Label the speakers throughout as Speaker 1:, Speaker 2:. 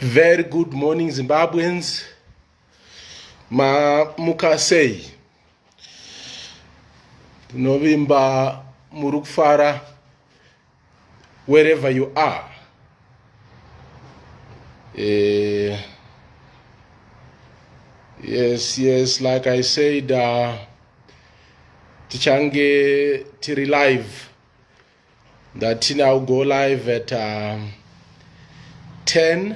Speaker 1: Very good morning Zimbabweans. Mamuka sei? Tinovimba muri kufara wherever you are. Eh, yes, yes, like I said, uh, tichange tiri live Ndatina I'll go live at um, 10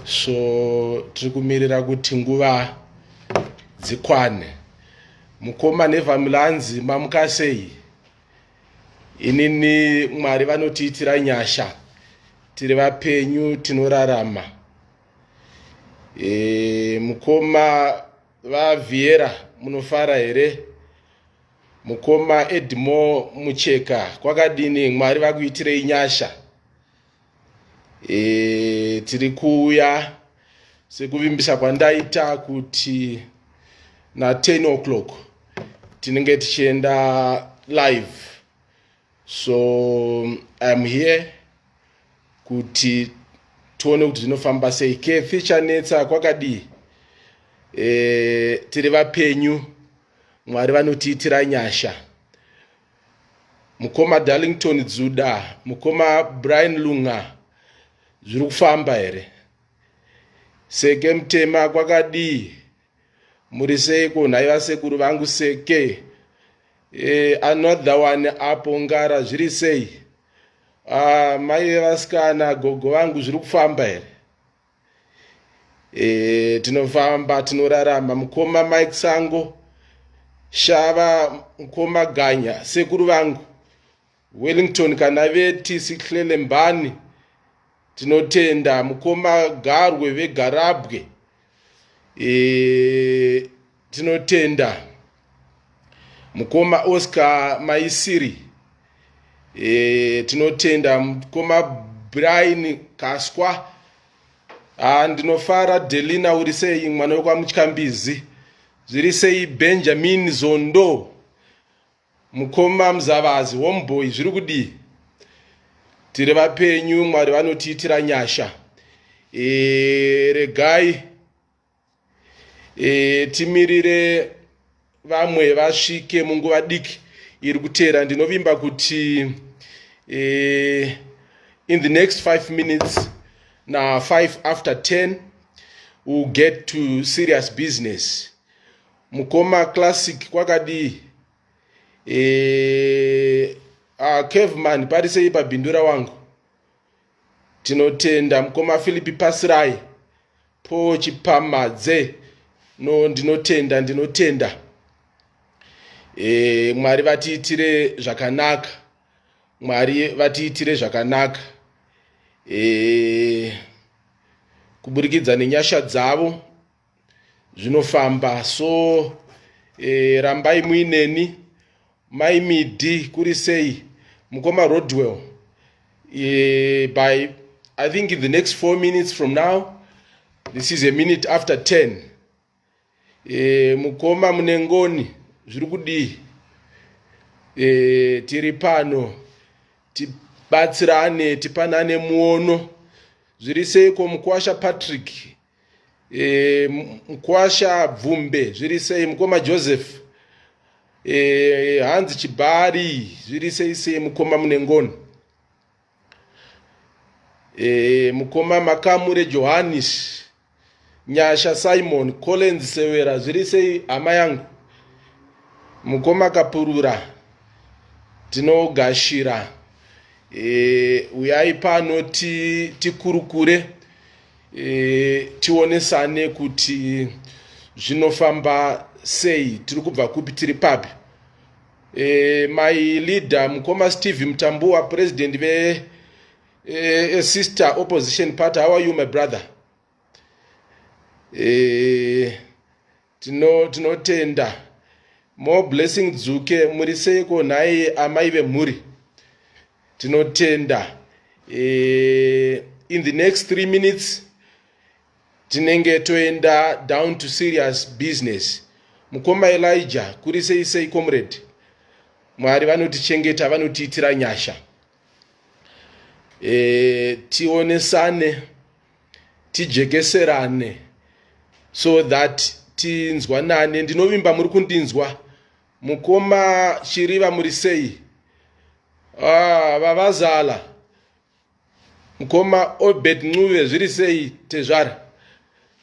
Speaker 1: so tiri kumirira kuti nguva dzikwane mukoma nevamilanzi mamuka sei inini mwari vanotiitira nyasha tiri vapenyu tinorarama e, mukoma vavhiera munofara here Mukoma Edmore Mucheka kwakadini Mwari vakuitirei nyasha e, tiri kuuya sekuvimbisa kwandaita kuti na 10 o'clock tinenge tichienda live so iam here kuti tione kuti zvinofamba sei kefi chanetsa kwakadii e, tiri vapenyu Mwari vanotiitira nyasha. Mukoma Darlington Dzuda, mukoma Brian Lunga zviri kufamba here? Seke mtema kwakadii? Muri seiko nhai vasekuru vangu seke? Eh, another one apo ngara zviri sei? Ah, mai vevasikana gogo vangu zviri kufamba here? e, tinofamba tinoraramba mukoma mike sango shava mukoma ganya sekuru vangu wellington kana vetisi hlelembani tinotenda mukoma garwe vegarabwe e, Tinotenda mukoma Oscar Maisiri. E, tinotenda mukoma Brian Kaswa. Ah, ndinofara Delina uri sei mwana wekwaMutyambizi. Zviri sei Benjamin Zondo. Mukoma Mzavazi homeboy zviri kudii? Tiri vapenyu Mwari vanotiitira nyasha. E, regai e, timirire vamwe vasvike munguva diki iri kuteera ndinovimba kuti e, in the next five minutes na five after ten will get to serious business mukoma classic kwakadii e, uh, caveman parisei pabhindura wangu Tinotenda mukoma Philip Pasirai po Chipamadze no ndinotenda ndinotenda e, Mwari vatiitire zvakanaka Mwari vatiitire zvakanaka e, kuburikidza nenyasha dzavo zvinofamba so e, rambai muineni mai midi kuri sei mukoma rodwell e, by i think in the next four minutes from now this is a minute after ten e, mukoma mune ngoni zviri kudii e, tiri pano tibatsirane tipanane muono zviri seiko mukwasha patrick e, mkwasha bvumbe zviri sei mukoma joseph e, hanzi chibari zviri sei sei mukoma munengoni e, mukoma makamure johannis nyasha simon collins severa zviri sei hama yangu mukoma kapurura tinogashira e, uyai pano tikurukure ti e, tionesane kuti zvinofamba sei tiri kubva kupi tiri papi e, my leader mukoma steve mtambuwa president ve e, sister opposition party how are you my brother e, Tino tinotenda. More blessing Dzuke muri seiko nhai amai vemhuri. Tinotenda. Eh, in the next 3 minutes tinenge toenda down to serious business. Mukoma Elijah kuri sei sei comrade. Mwari vanotichengeta vanotiitira nyasha. e, tionesane tijekeserane so that tinzwanane ndinovimba muri kundinzwa mukoma chiriva muri sei ah, vavazala mukoma obed ncuve zviri sei tezvara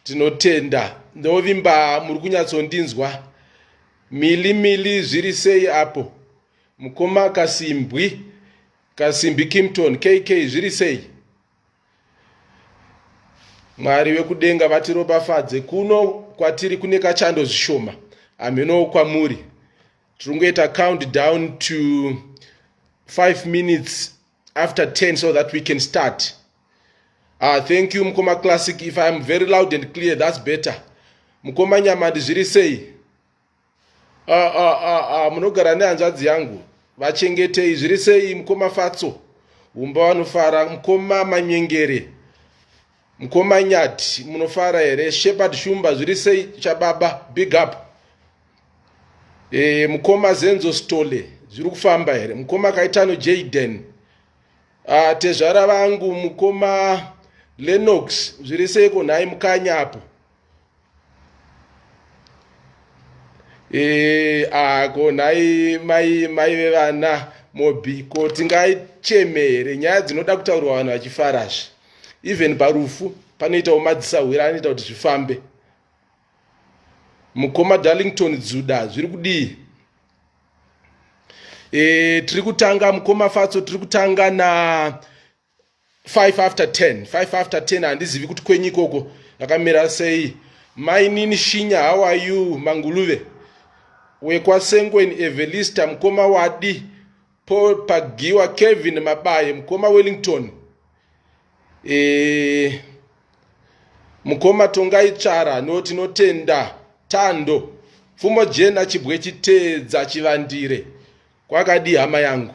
Speaker 1: tinotenda ndinovimba muri kunyatsondinzwa mili mili zviri sei apo Mukoma Kasimbwi, Kasimbi Kimpton, KK zviri sei? Mwari vekudenga vatiropafadze kuno kwatiri kune kachando zvishoma hamhenowo kwamuri tiri kungoita count down to 5 minutes after 10 so that we can start ah, thank you mukoma classic if iam very loud and clear thats better mukoma nyamandi zviri sei Ah, ah, ah, ah, munogara nehanzvadzi yangu vachengetei zviri sei mukoma fatso umba vanofara mukoma manyengere mukoma nyati munofara here shepard shumba zviri sei chababa big up e, mukoma zenzo stole zviri kufamba here mukoma kaitano jaden ah, tezvara vangu mukoma lenox zviri seiko nhai mukanya apo Eh, ako nhai mai mai vevana mobiko tingaichemere nyaya dzinoda kutaurwa vanhu vachifara zve even parufu panoitawo madzisahwira anoita kuti zvifambe mukoma darlington dzuda zviri kudii e, tiri kutanga mukoma fatso tiri kutanga na 5 after 10 5 after 10 handizivi kuti kwenyu ikoko yakamira sei mainini shinya how are you manguluve wekwasengweni evelista mukoma wadi paul pagiwa kevin mabaye mukoma wellington e, mukoma tongai tsvara no tinotenda tando pfumo jena chibwe chiteedza chivandire kwakadii hama yangu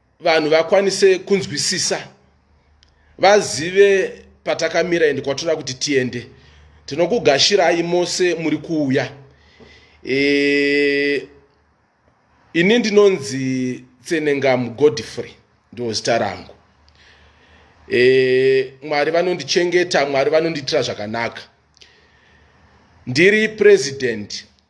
Speaker 1: vanhu vakwanise kunzwisisa vazive patakamira ende kwatinoda kuti tiende tinokugashirai mose muri kuuya e, ini ndinonzi tsenengamu godfrey ndo zita rangu e, mwari vanondichengeta mwari vanondiitira zvakanaka ndiri president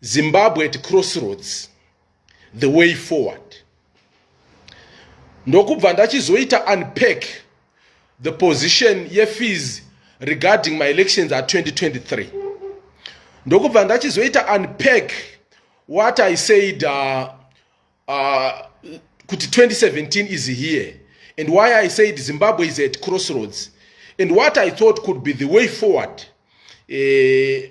Speaker 1: zimbabwe at crossroads the way forward ndokubva ndachizoita unpack the position yefees regarding my elections at 2023 ndokubva ndachizoita unpack what i said uh, uh, kuti 2017 is here and why i said zimbabwe is at crossroads and what i thought could be the way forward uh,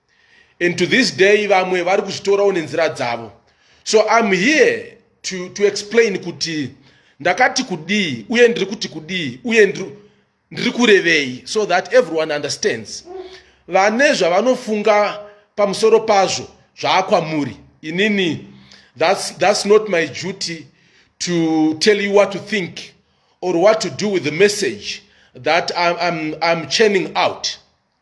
Speaker 1: and to this day vamwe vari kuzvitorawo nenzira dzavo so im here to, to explain kuti ndakati kudii uye ndiri kuti kudii uye ndiri kurevei so that everyone understands vane zvavanofunga pamusoro pazvo zvaakwamuri inini that's, that's not my duty to tell you what to think or what to do with the message that I'm, I'm, I'm churning out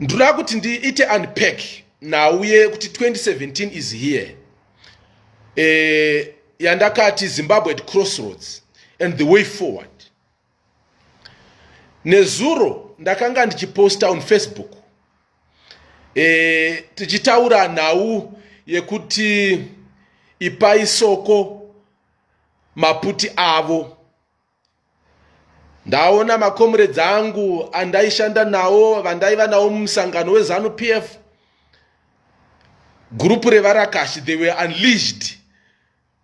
Speaker 1: ndoda kuti ndiite unpack nhau yekuti 2017 is here eh, yandakati zimbabwe at crossroads and the way forward nezuro ndakanga ndichiposta on facebook eh, tichitaura nhau yekuti ipai soko maputi avo ndaona makomuredzi angu andaishanda nawo vandaiva nawo mumusangano wezanu p f gurupu revarakashi they were unleashed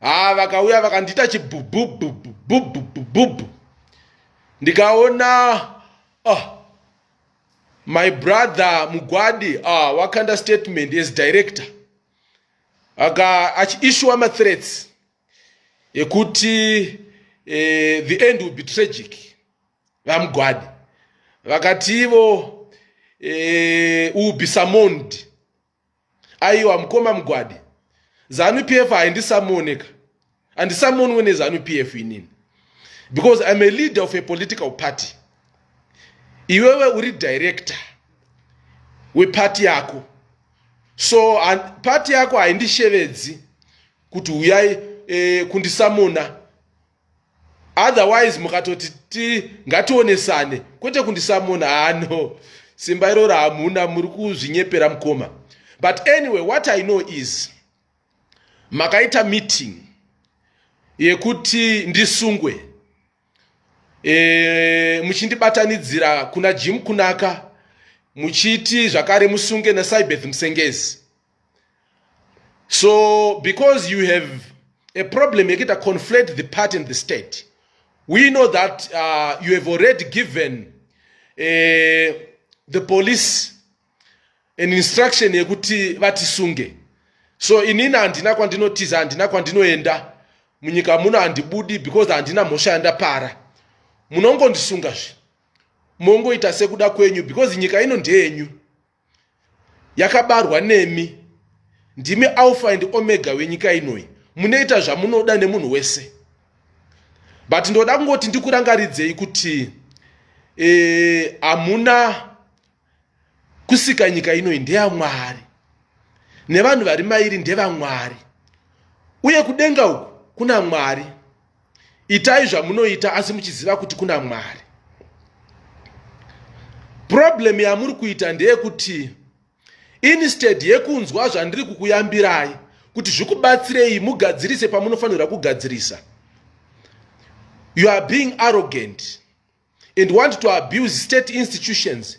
Speaker 1: haa ah, vakauya vakandiita chibhubhubhubhubhubhubhubhubhu ndikaona oh, my brother mugwadi ah, wakanda statement as director aka achiishuwa mathreats yekuti eh, the end will be tragic vamugwadi vakati ivo eh, will be summoned aiwa mukoma mugwadi zanu p f haindisamoneka handisamonwe nezanu p f inini because iam a leader of a political party iwewe uri director wepati yako so pati yako haindishevedzi kuti huyai e, kundisamona otherwise mukatoti ti ngationesane kwete kundisamona hano simba iroro hamuna muri kuzvinyepera mukoma but anyway what i know is makaita meeting yekuti ndisungwe e, muchindibatanidzira kuna jim kunaka muchiti zvakare musunge nasaibeth musengezi so because you have a problem yekuita conflate the party and the state we know that uh, you have already given uh, the police an instruction yekuti vatisunge so inini handina kwandinotiza handina kwandinoenda munyika muno handibudi because handina mhosva yandapara munongondisunga zve mongoita sekuda kwenyu because nyika ino ndeyenyu yakabarwa nemi ndimi alpha and omega wenyika inoyi munoita zvamunoda nemunhu wese but ndoda kungoti ndikurangaridzei kuti eh, hamuna e, kusika nyika inoyi ndeyamwari nevanhu vari mairi ndevamwari uye kudenga uku kuna mwari itai zvamunoita asi muchiziva kuti kuna mwari problem yamuri kuita ndeyekuti instead yekunzwa zvandiri kukuyambirai kuti zvikubatsirei mugadzirise pamunofanirwa kugadzirisa you are being arrogant and want to abuse state institutions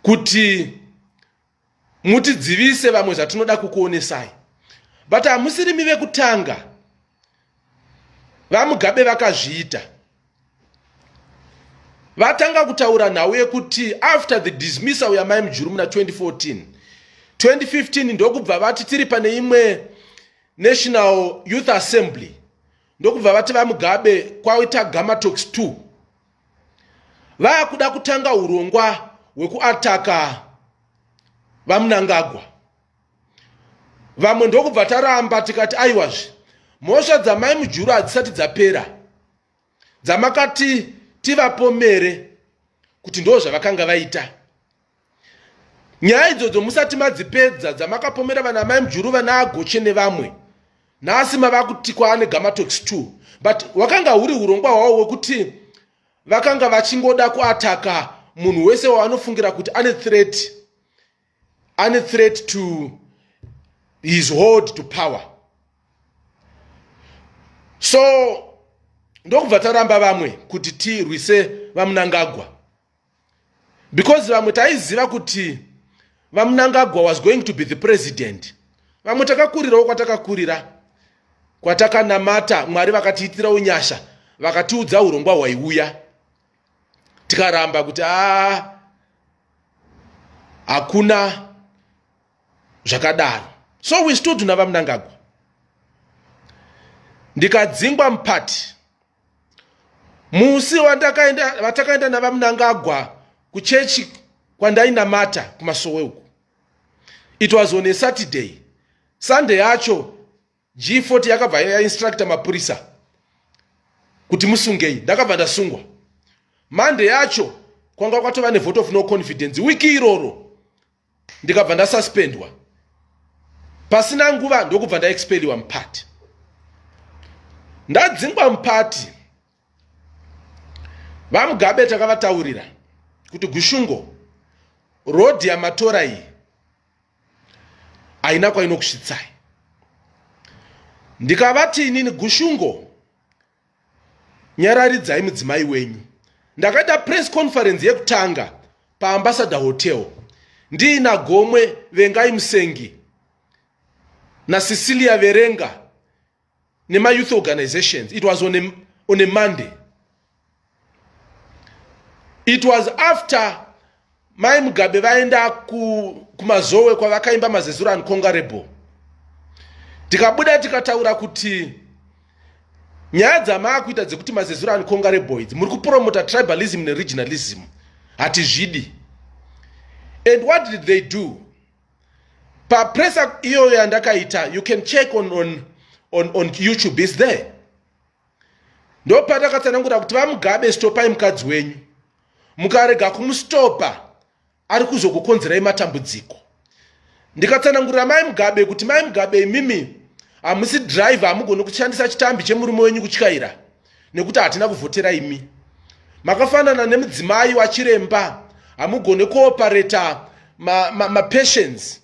Speaker 1: kuti mutidzivise vamwe zvatinoda kukuonesai but hamusirimi vekutanga vamugabe vakazviita vatanga kutaura nhau yekuti after the dismissal yamai mujuru muna 2014 2015 ndokubva vati tiri pane imwe national youth assembly ndokubva vati vamugabe kwaita gamatox 2 vakuda kutanga urongwa hwekuataka vamunangagwa vamwe ndokubva taramba tikati aiwazve mhosva dzamai mujuru hadzisati dzapera dzamakati tivapomere kuti ndo zvavakanga vaita nyaya idzodzo musati madzipedza dzamakapomera vana mai mjuru vana agoche nevamwe nhasi mava kuti kwaane gamatox t but wakanga huri urongwa hwavo wekuti vakanga vachingoda kuataka munhu wese waanofungira kuti ane threat ane threat to his hold to power so ndokubva taramba vamwe kuti tirwise vamunangagwa because vamwe taiziva kuti vamunangagwa was going to be the president vamwe takakurirawo kwatakakurira kwatakanamata mwari vakatiitira unyasha vakatiudza urongwa hwaiuya tikaramba kuti a hakuna zvakadaro so we stood navamunangagwa ndikadzingwa mupati musi vatakaenda navamunangagwa kuchechi kwandainamata kumasowe uku it was on a saturday sunday yacho g40 yakabva yainstructa mapurisa kuti musungei ndakabva ndasungwa monday yacho kwanga kwatova nevote of no confidence wiki iroro ndikabva ndasuspendwa pasina nguva ndokubva ndaexpeliwa mupati ndadzingwa mupati vamugabe takavataurira kuti gushungo rodhi yamatora iyi haina kwainokusvitsai ndikavati inini gushungo nyararidzai mudzimai wenyu ndakaita press conference yekutanga paambassador hotel ndiina gomwe vengai musengi nacecilia verenga nemayouth organizations it was on a, on a monday it was after mai mugabe vaenda kumazowe kwavakaimba mazezuro uncongarable tikabuda tikataura kuti nyaya dzamaakuita dzekuti mazezuro uncongarable idzi muri kupromota tribalism neregionalism hatizvidi and what did they do papresa iyoyo yandakaita you can check on, on, on, on youtube is there ndopatakatsanangura kuti vamugabe stopai mukadzi wenyu mukarega kumustopa ari kuzokukonzerai matambudziko ndikatsanangurira mai mugabe kuti mai mugabe imimi hamusi driver hamugoni kushandisa chitambi chemurume wenyu kutyaira nekuti hatina kuvhotera imi makafanana nemudzimai wachiremba hamugone kuopareta mapatients ma, ma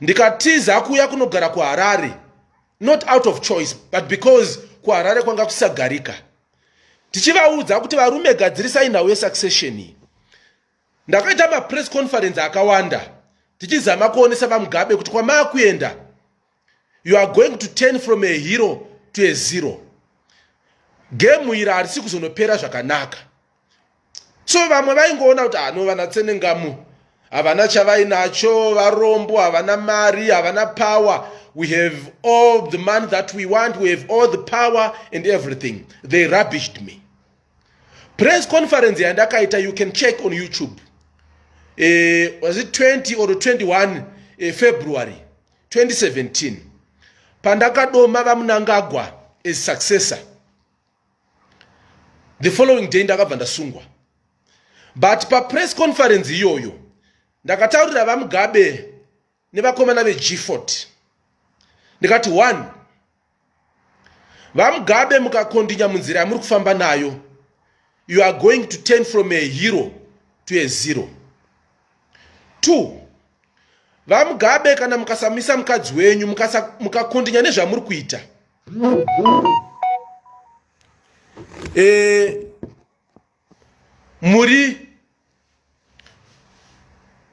Speaker 1: ndikatiza kuuya kunogara kuharare not out of choice but because kuharare kwanga kusagarika tichivaudza kuti varume gadzirisai nhau yesuccession iyi ndakaita mapress conference akawanda tichizama kuonesa vamugabe kuti kwamaakuenda you are going to turn from a hero to a zero gemu iri harisi kuzonopera zvakanaka so vamwe vaingoona kuti hano ah, vanatsenengamu havana chavainacho varombo havana mari havana power we have all the money that we want we have all the power and everything they rubbished me press conference yandakaita you can check on youtube uh, was it 20 or 21 uh, eh, february 2017 pandakadoma vamunangagwa as successor the following day ndakabva ndasungwa but papress conference iyoyo ndakataurira vamugabe nevakomana vegfort ndikati one vamugabe mukakondinya munzira yamuri kufamba nayo you are going to turn from a hero to a zero two vamugabe kana mukasamisa mukadzi wenyu mukakondinya muka nezvamuri kuita e, muri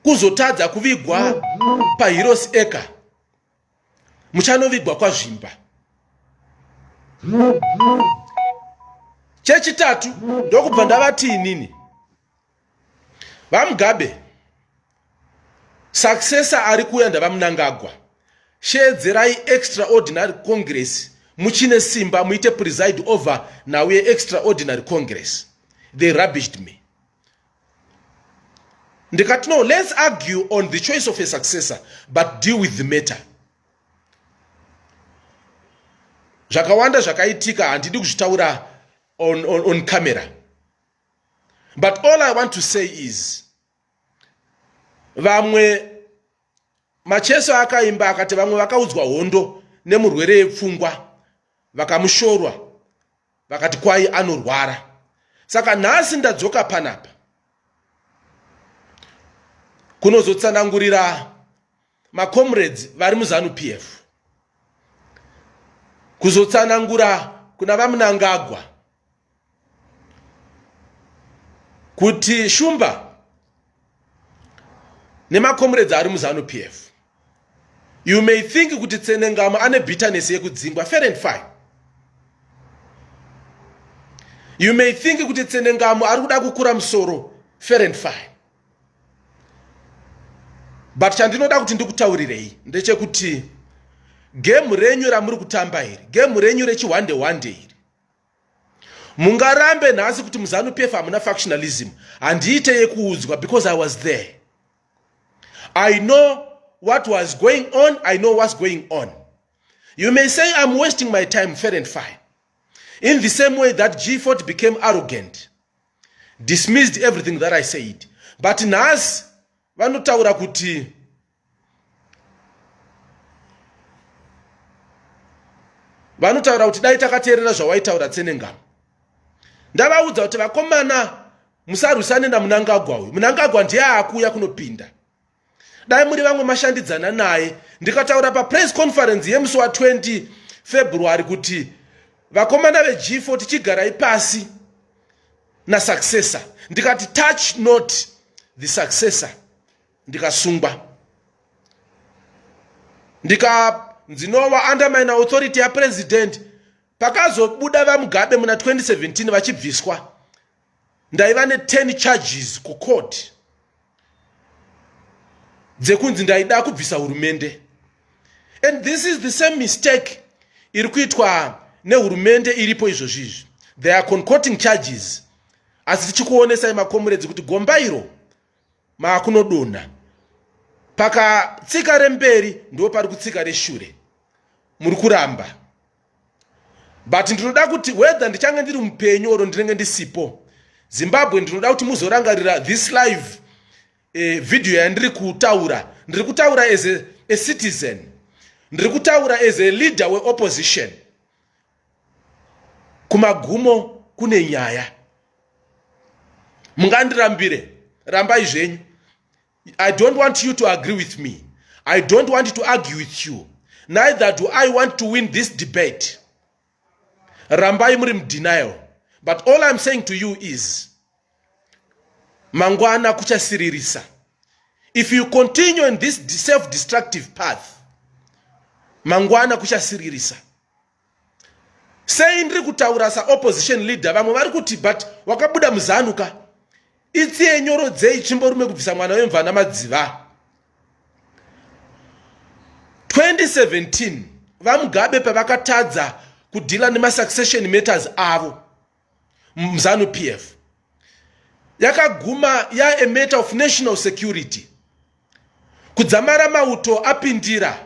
Speaker 1: kuzotadza kuvigwa pahirosi eka muchanovigwa kwazvimba chechitatu ndokubva ndavati inini vamugabe successor ari kuuya ndavamunangagwa sheedzerai extraordinary congress muchine simba muite preside over now yeextraordinary congress they rubbished me ndikati no let's argue on the choice of a successor but deal with the matter zvakawanda zvakaitika handidi kuzvitaura on, on, on camera but all i want to say is vamwe macheso akaimba akati vamwe vakaudzwa hondo nemurwere yepfungwa vakamushorwa vakati kwayi anorwara saka nhasi ndadzoka panapa kunozotsanangurira macomrades vari muzanu p f kuzotsanangura kuna vamunangagwa kuti shumba nemakomuredzi ari muzanu p f you may think kuti tsenengamo ane bitterness yekudzingwa fair and fine you may think kuti tsenengamo ari kuda kukura musoro fair and fine but chandinoda kuti ndikutaurirei ndechekuti gemu renyu ramuri kutamba iri gemu renyu rechihwande hwande iri mungarambe nhasi kuti muzanu pf hamuna factionalism handiite yekuudzwa because i was there i know what was going on i know what's going on you may say i'm wasting my time fair and fine in the same way that g40 became arrogant dismissed everything that i said but nhasi vanotaura kuti vanotaura kuti dai takateerera zvawaitaura tsenengama ndavaudza kuti vakomana musarwisane namunangagwa uyu munangagwa ndiye akuuya kunopinda dai muri vamwe mashandidzana naye ndikataura papress conference yemusi wa20 february kuti vakomana veg4 tichigarai pasi nasuccessor ndikati touch not the successor ndikasungwa ndika ndinova under mine authority yapresident pakazobuda vamugabe muna 2017 vachibviswa ndaiva ne10 charges kucourt dzekunzi ndaida kubvisa hurumende and this is the same mistake iri kuitwa nehurumende iripo izvozvi izvi they are concoting charges asi tichikuonesai makomuredzi kuti gomba iro maakunodonha pakatsika remberi ndo pari kutsika reshure muri kuramba but ndinoda kuti whether ndichange ndiri mupenyu oro ndinenge ndisipo zimbabwe ndinoda kuti muzorangarira this live eh, video yandiri kutaura ndiri kutaura as a, a citizen ndiri kutaura as a leader weopposition kumagumo kune nyaya mungandirambire rambai zvenyu i don't want you to agree with me i don't want to argue with you neither do i want to win this debate rambai muri mudenial but all i'm saying to you is mangwana kuchasiririsa if you continue in this self-destructive path mangwana kuchasiririsa sei ndiri kutaura saopposition leader vamwe vari kuti but wakabuda muzanuka itsiye nyoro dzei chimborume kubvisa mwana wemvana madziva 2017 vamugabe pavakatadza kudhila nemasuccession matters avo mzanu p f yakaguma ya a matter of national security kudzamara mauto apindira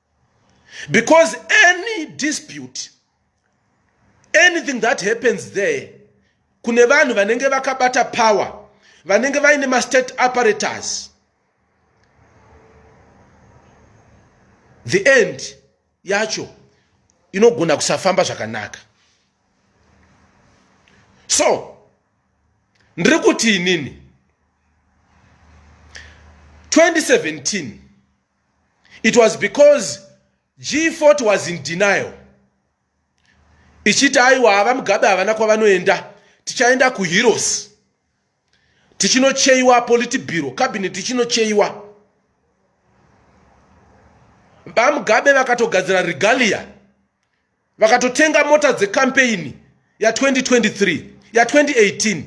Speaker 1: because any dispute anything that happens there kune vanhu vanenge vakabata power vanenge vaine mastate apparatus the end yacho inogona kusafamba zvakanaka so ndiri kuti inini 2017 it was because g40 was in denial ichiti aiwa hava mugabe havana kwavanoenda tichaenda kuheroes tichinocheiwa politibiro cabinet tichinocheiwa vamugabe vakatogadzira regalia vakatotenga mota dzekampeini ya2023 ya2018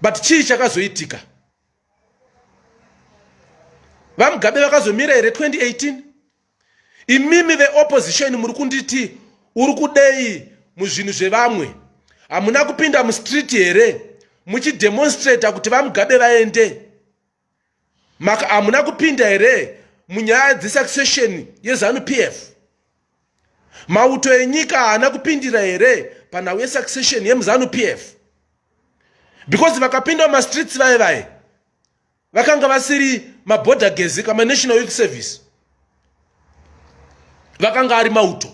Speaker 1: but chii chakazoitika vamugabe vakazomira here 2018 imimi veopposition muri kunditi uri kudei muzvinhu zvevamwe hamuna kupinda mustreet here muchidemonstrata kuti vamugabe vaende maka hamuna kupinda here munyaya dzesuccession yezanu p f mauto enyika haana kupindira here panhau yesuccession yemuzanu p f because vakapinda mumastreets vaye vaye vakanga vasiri maborder gezi kama national youth service vakanga ari mauto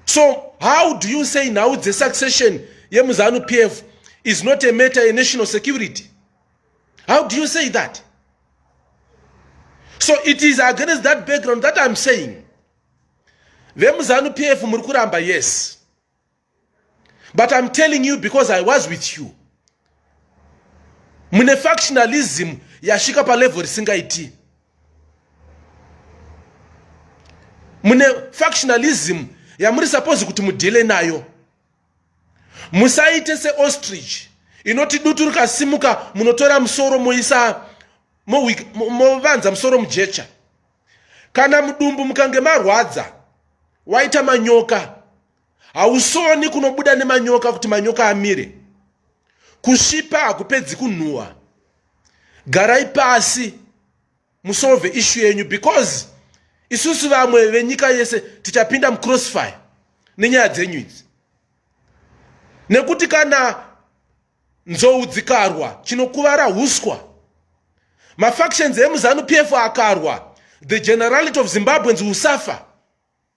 Speaker 1: so how do you say nhau dzesuccession yemuzanu p f is not a matter yenational security how do you say that so it is against that background that iam saying vemuzanu p f muri kuramba yes but iam telling you because i was with you mune factionalism yasvika palevel risingaiti mune factionalism yamuri supose kuti mudhile nayo musaite seostrich inoti dutu rikasimuka munotora musoro moisa movanza musoro mujecha kana mudumbu mukange marwadza waita manyoka hausoni kunobuda nemanyoka kuti manyoka amire kusvipa hakupedzi kunhuhwa garai pasi musolve ishu yenyu because isusu vamwe venyika yese tichapinda mucrossfire nenyaya dzenyu idzi nekuti kana nzou dzikarwa chinokuvara huswa mafactions emuzanu p f akarwa the generality of zimbabweans will suffer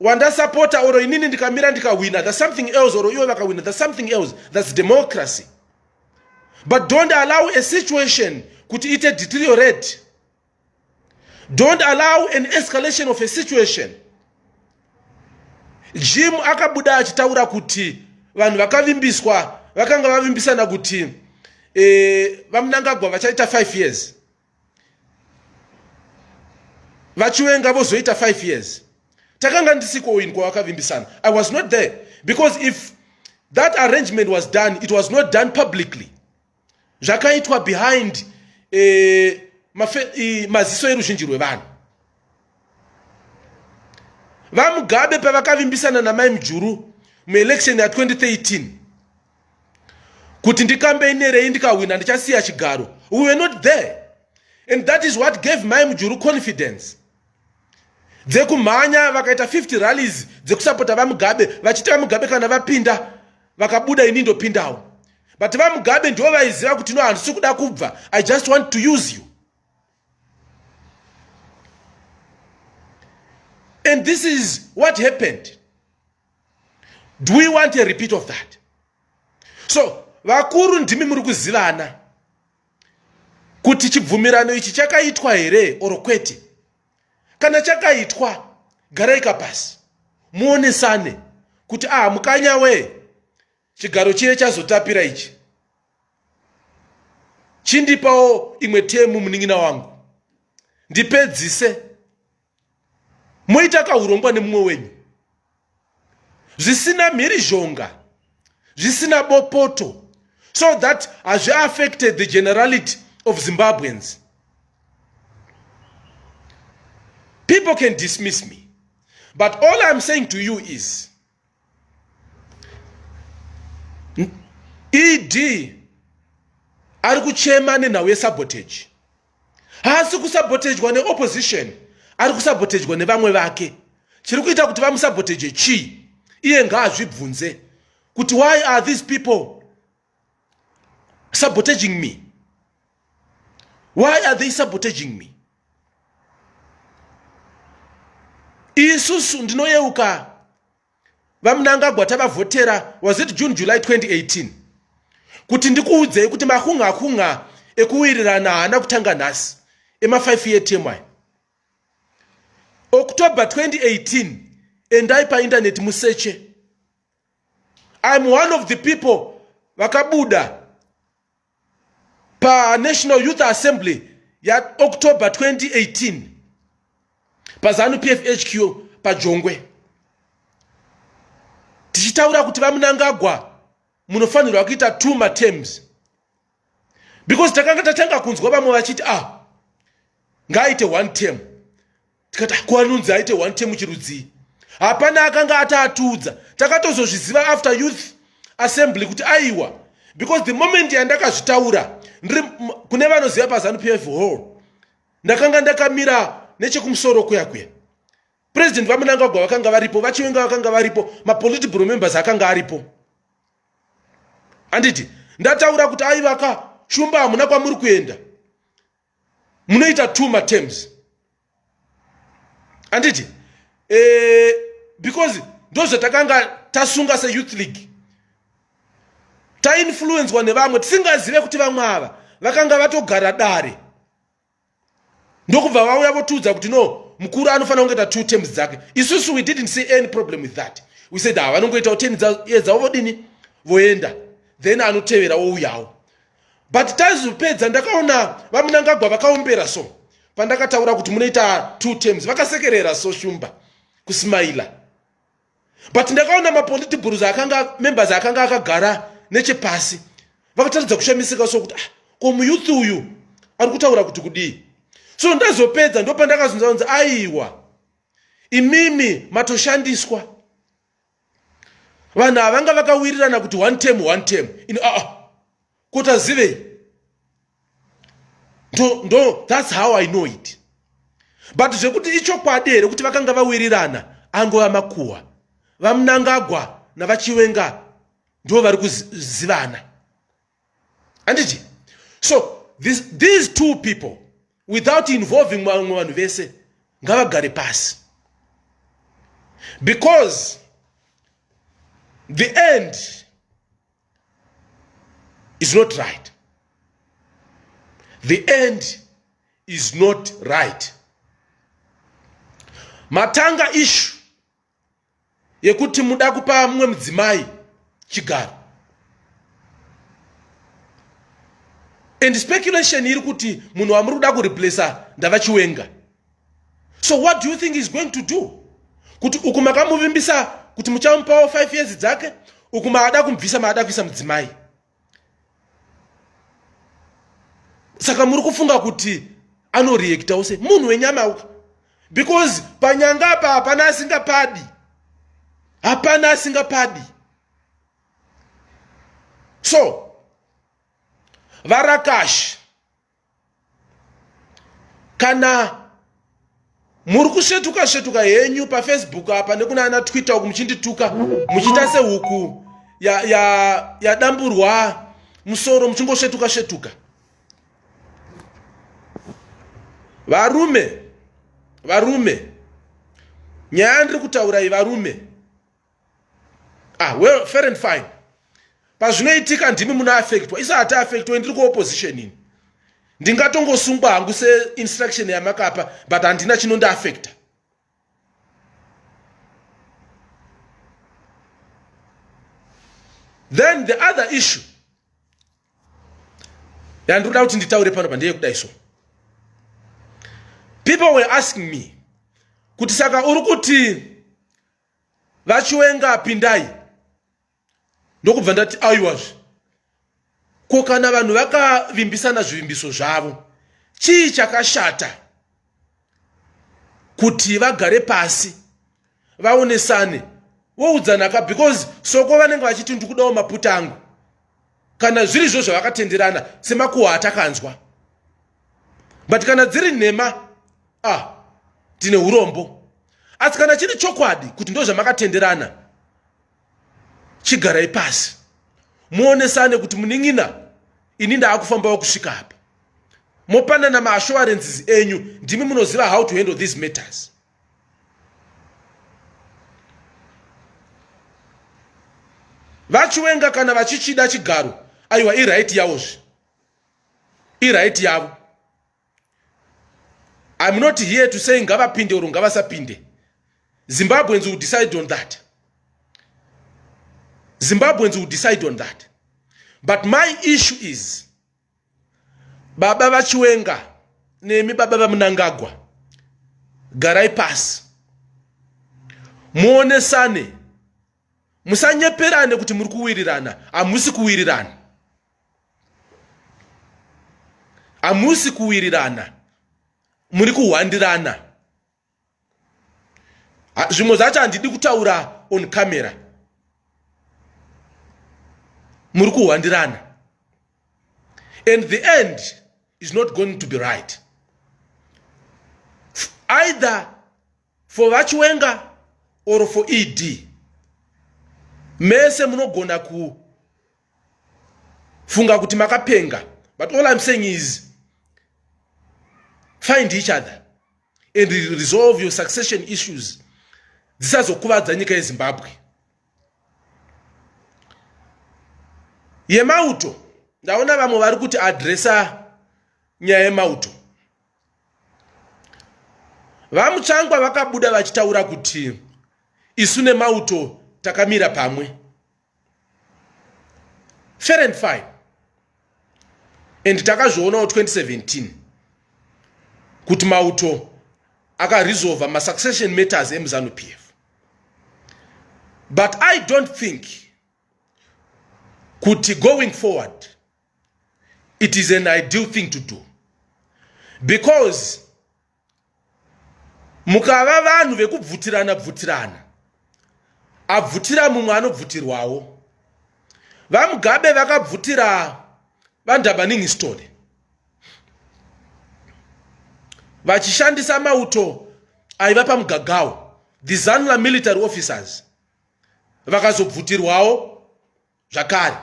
Speaker 1: wandasapota or inini ndikamira ndikahwina the something else or iwe vakahwina the something else thats democracy but don't allow a situation kuti ite deteriorate don't allow an escalation of a situation jim akabuda achitaura kuti vanhu vakavimbiswa vakanga vavimbisana kuti e, vamunangagwa vachaita 5 years vachiwenga vozoita 5 years takanga ndisiko in kwawakavimbisana i was not there because if that arrangement was done it was not done publicly zvakaitwa behind eh, mafe, eh, maziso eruzhinji rwevanhu vamugabe pavakavimbisana namai mujuru muelection ya 2013 kuti ndikambeinerei ndikahwina ndichasiya chigaro we were not there and that is what gave mai mujuru confidence dzekumhanya vakaita 50 rallies dzekusapota vamugabe vachiti vamugabe kana vapinda vakabuda ini ndopindawo but vamugabe ndivo vaiziva kuti no handisi kuda kubva i just want to use you and this is what happened do we want a repeat of that so vakuru ndimi muri kuzivana kuti chibvumirano ichi chakaitwa here or kwete kana chakaitwa garaika pasi muonesane kuti aha mukanya wee chigaro chiye chazotapira ichi chindipawo imwe temu munin'ina wangu ndipedzise moita kaurongwa nemumwe wenyu zvisina mhirizhonga zvisina bopoto so that hazvi affected the generality of zimbabweans people can dismiss me but all iam saying to you is ed ari kuchema nenhau yesabotage haasi kusabotejwa neopposition ari kusabotejwa nevamwe vake chiri kuita kuti vamusaboteje chii iye ngaazvibvunze kuti why are these people sabotaging me why are they sabotaging me isusu ndinoyeuka vamunangagwa tavavhotera was it june july 2018 kuti ndikuudzei kuti makunga kunga ekuwirirana haana kutanga nhasi ema5 year tmy october 2018 endai paindaneti museche I'm one of the people vakabuda panational youth assembly yaoctober 2018 pazanu pfhq pajongwe tichitaura kuti vamunangagwa munofanirwa kuita two matems because takanga tatanga kunzwa vamwe vachiti ah ngaaite one term tikati ah, kuanunzi aite one term chirudzii hapana akanga ataatudza takatozozviziva after youth assembly kuti aiwa because the moment yandakazvitaura ndiri kune vanoziva pazanu p f hall ndakanga ndakamira nechekumusoro kuya kuya president vamunangagwa vakanga varipo vachiwenga vakanga varipo mapolitibro members akanga aripo handiti ndataura kuti aivaka shumba hamuna kwamuri kuenda munoita two matems handiti e, eh, because ndozvatakanga tasunga seyouth league tainfluencwa nevamwe tisingazive kuti vamwe ava vakanga vatogara dare ndokubva vauya votiudza kuti no mukuru anofanira kungoita two terms dzake isusu we didn't see any problem with that we said ha ah, vanongoitawo ten years dzavo vodini voenda then anotevera wouyawo but taizopedza ndakaona vamunangagwa vakaombera so pandakataura kuti munoita two terms vakasekerera so shumba kusmaila but ndakaona mapoliti bhuruz akanga members akanga akagara nechepasi vakataridza kushamisika sokuti ah, ko muyuth uyu ari kutaura kuti kudii so ndazopedza ndopandakazunza unzi aiwa imimi matoshandiswa vanhu havanga vakawirirana kuti one term one term ino aa ah, ah. kuti azivei ndo ndo thats how i know it but zvekuti ichokwadi here kuti vakanga vawirirana angova makuhwa vamunangagwa navachiwenga ndo vari kuzivana anditi so this, these two people without involving vamwe vanhu vese ngavagare pasi because the end is not right the end is not right matanga ishu yekuti muda kupa mumwe mudzimai chigaro and speculation iri kuti munhu wamuri kuda kureplacer ndava chiwenga so what do you think is going to do kuti uku makamuvimbisa kuti muchamupawo five years dzake uku maada kumubvisa maada kuisa mudzimai saka muri kufunga kuti anoreactawo se munhu wenyama uku because panyanga apa hapana asingapadi hapana asingapadi so varakashi kana muri kusvetuka svetuka henyu pafacebook apa nekuna ana twitter uku muchindituka muchiita sehuku yadamburwa ya, ya musoro muchingosvetuka svetuka varume varume nyaya ndiri kutaura iyi varume ah well fair and fine pazvinoitika ndimi muna affectwa isa hati affectwa ndiri kuopposition ini ndingatongosungwa hangu seinstruction yamakapa but handina chinondiaffecta then the other issue yandinoda kuti nditaure pano pa ndeyekudai so people were asking me kuti saka uri kuti vachiwenga pindai ndokubva ndati aiwazve ko kana vanhu vakavimbisana zvivimbiso zvavo chii chakashata kuti vagare pasi vaonesane woudzanaka because soko vanenge vachiti ndikudawo maputa angu kana zviri zvo zvavakatenderana semakuhwa atakanzwa but kana dziri nhema ah tine urombo asi kana chiri chokwadi kuti ndo zvamakatenderana chigarai pasi muonesane kuti munin'ina ini ndaakufambawo kusvika apa mopanana maassurances enyu ndimi munoziva how to handle these matters vachiwenga kana vachichida chigaro aiwa iright yawozve iright yavo im not here to say ngavapinde or ngavasapinde zimbabweans will decide on that zimbabweans will decide on that but my issue is baba vachiwenga nemi baba vamunangagwa garai pasi muonesane musanyeperane kuti muri kuwirirana hamusi kuwirirana hamusi kuwirirana muri kuhwandirana zvimwe zvacho handidi kutaura on camera muri kuhwandirana and the end is not going to be right either for vachiwenga or for ed mese munogona funga kuti makapenga but all i'm saying is find each other and resolve your succession issues dzisazokuvadza nyika yezimbabwe yemauto ndaona vamwe vari kuti adresa nyaya yemauto vamutsvangwa vakabuda vachitaura kuti isu nemauto takamira pamwe fair and fine and takazvionawo 2017 kuti mauto akaresolva masuccession matters emuzanu p f but i don't think kuti going forward it is an ideal thing to do because mukava vanhu vekubvutirana bvutirana abvutira mumwe anobvutirwawo vamugabe vakabvutira vandabaningisitone vachishandisa mauto aiva pamugagawo the zanula military officers vakazobvutirwawo zvakare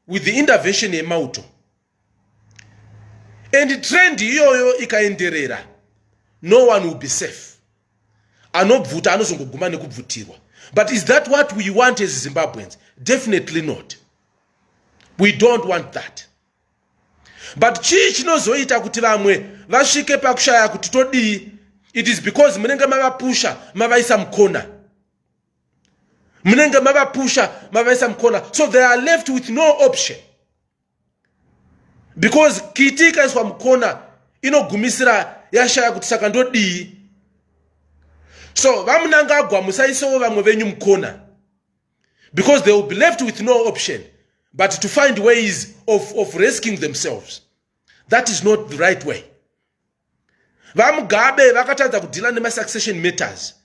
Speaker 1: with the intervention yemauto and trend iyoyo ikaenderera no one will be safe anobvuta anozongoguma nekubvutirwa but is that what we want as zimbabweans definitely not we don't want that but chii chinozoita kuti vamwe vasvike pakushaya kuti todii it is because munenge mavapusha mavaisa mukona munenge mavapusha mavaisa mukona so they are left with no option because kiti ikaiswa mukona inogumisira yashaya kuti saka ndodii so vamunangagwa musaisewo vamwe venyu mukona because they will be left with no option but to find ways of, of rescuing themselves that is not the right way vamugabe vakatadza kudhila nemasuccession matters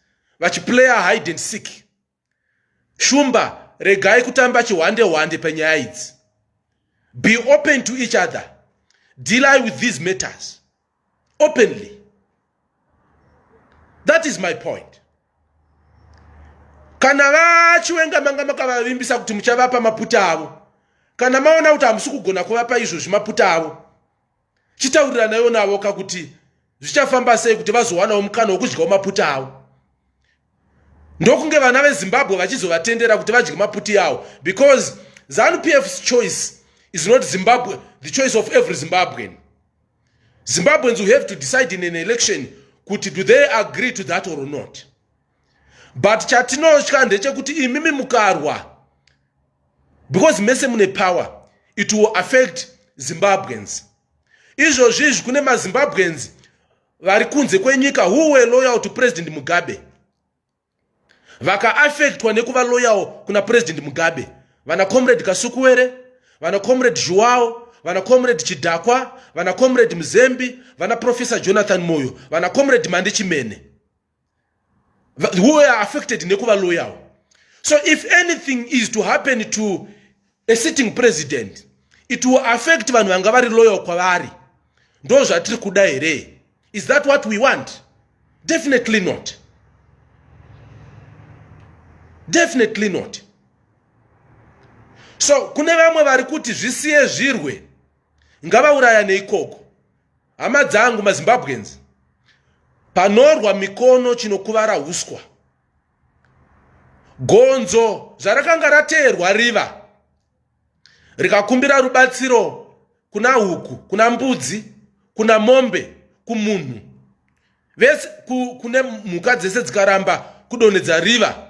Speaker 1: vachiplayer hide and seek shumba regai kutamba chihwande hwande penyaya idzi be open to each other deal with these matters openly that is my point kana vachiwenga manga makavavimbisa kuti muchavapa maputa avo kana maona kuti hamusi kugona kuvapa izvozvi maputa avo chitauriranaiwo navo ka kuti zvichafamba sei kuti vazowanawo mukana wokudyawo maputa avo ndokunge vana vezimbabwe vachizovatendera kuti vadye maputi avo because zanu pfs choice is not zimbabwe the choice of every zimbabwean zimbabweans will have to decide in an election kuti do they agree to that or not but chatinotya ndechekuti imimi mukarwa because mese mune power it will affect zimbabweans izvozvi izvi kune mazimbabweans vari kunze kwenyika who were loyal to president mugabe vakaaffectwa nekuva loyal kuna president mugabe vana comrade kasukuwere vana comrade zhuwao vana comrade chidhakwa vana comrade muzembi vana professor jonathan moyo vana comrade mandi chimene who are affected nekuva loyal so if anything is to happen to a sitting president it will affect vanhu vanga vari loyal kwavari ndo zvatiri kuda here is that what we want definitely not definitely not so kune vamwe vari kuti zvisiye zvirwe ngavaurayane ikoko hama dzangu mazimbabweans panorwa mikono chinokuvara huswa gonzo zvarakanga rateerwa riva rikakumbira rubatsiro kuna huku kuna mbudzi kuna mombe kumunhu vese kune mhuka dzese dzikaramba kudonhedza riva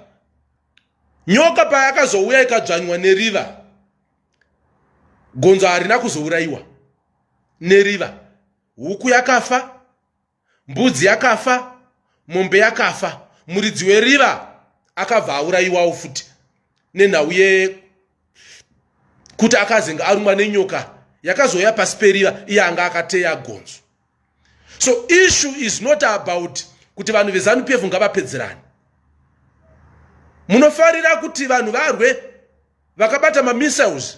Speaker 1: nyoka payakazouya ikadzvanywa neriva gonzo harina kuzourayiwa neriva huku yakafa mbudzi yakafa mombe yakafa muridzi weriva akabva aurayiwawo futi nenhau ye kuti akazenge arumwa nenyoka yakazouya pasi periva iye anga akateya gonzo so issue is not about kuti vanhu vezanu pf ngavapedzerani munofarira kuti vanhu varwe vakabata mamissiles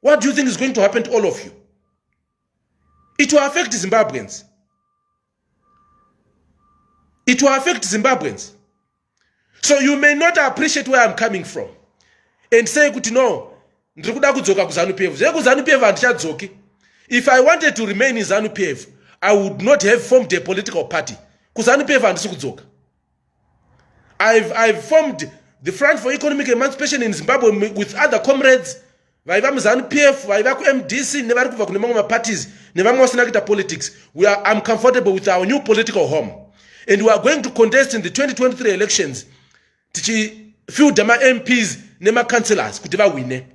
Speaker 1: what do you think is going to happen to all of you it will affect zimbabweans it will affect zimbabweans so you may not appreciate where i'm coming from and say kuti no ndiri kuda kudzoka kuzanu pf zve kuzanu pf handichadzoki if i wanted to remain in zanu pf i would not have formed a political party kuzanu pf handisi kudzoka I've, I've formed the front for economic emancipation in zimbabwe with other comrades vaiva muzanu p f vaiva kumd c nevari kubva kune mamwe maparties nevamwe vasina kuita politics weare am comfortable with our new political home and weare going to contest in the 2023 elections tichifielda mamps nemacouncelors kuti vahwine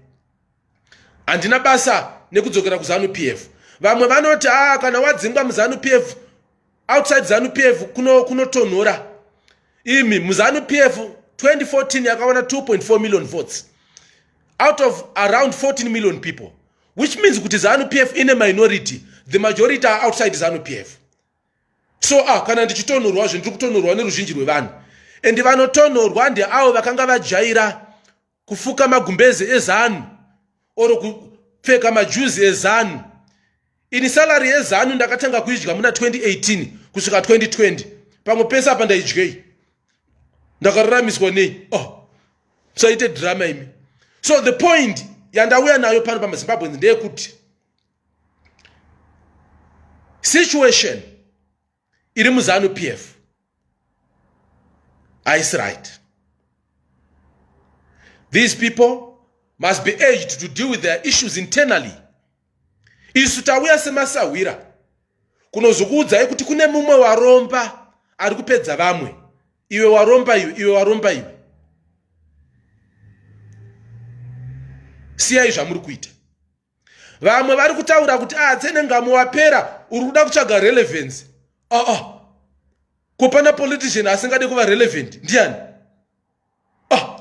Speaker 1: handina basa nekudzokera kuzanu p f vamwe vanoti a ah, kana wadzingwa muzanu p f outside zanu p f kunotonhora kuno imi muzanu p f 2014 yakawana 2.4 million votes out of around 14 million people which means kuti zanu p f ine minority the majority are outside zanu p f so ah kana ndichitonhorwa zve ndiri kutonhorwa neruzhinji rwevanhu and vanotonhorwa ndeavo vakanga vajaira kufuka magumbeze ezanu or kupfeka majuzi ezanu ini salary yezanu ndakatanga kuidya muna 2018 kusvika 2020 pamwe pese apa ndaidyei ndakaruramiswa nei oh musaite drama imi so the point yandauya nayo pano pamazimbabweans ndeyekuti situation iri muzanu pf haisi right these people must be aged to deal with their issues internally isu tauya semasahwira kunozokuudzai kuti kune mumwe waromba ari kupedza vamwe iwe waromba iwe iwe waromba iwe siyai zvamuri kuita vamwe vari kutaura kuti a ah, tsenengamo wapera uri kuda kutsvaga relevance aa ah, ah. ko pana politician asingade kuva relevant ndiani ah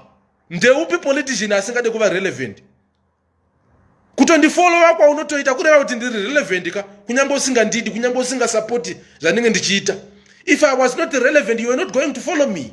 Speaker 1: ndeupi politician asingade kuva relevant kutondifolowa kwaunotoita kureva kuti ndiri relevant ka kunyange usingandidi kunyange usingasapoti zvandinge ndichiita if i was not relevant you were not going to follow me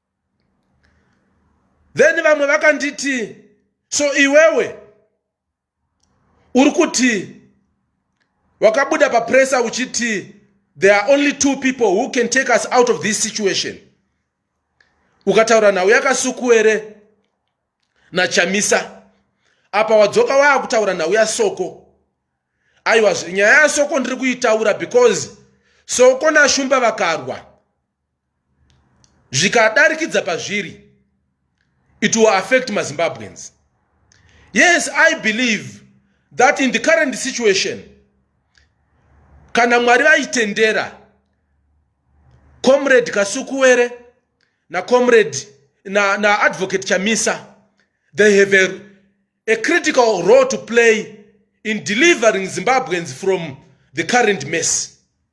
Speaker 1: then vamwe vakanditi so iwewe uri kuti wakabuda papresa uchiti there are only two people who can take us out of this situation ukataura nhau yakasukuere nachamisa apa wadzoka waakutaura nhau yasoko aiwa nyaya yasoko ndiri kuitaura because soko nashumba vakarwa zvikadarikidza pazviri it will affect mazimbabweans yes i believe that in the current situation kana mwari vaitendera comrade kasukuwere nacomrade naadvocate na chamisa they have a, a critical role to play in delivering zimbabweans from the current mess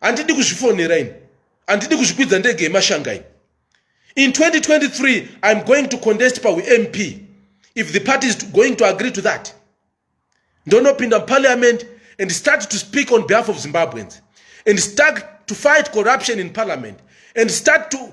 Speaker 1: handidi kuzvifonera ini handidi kuzvikwidza ndege yemashanga ini in 2023 iam going to contest paump if the party is going to agree to that ndonopinda muparliament and start to speak on behalf of zimbabweans and start to fight corruption in parliament and start to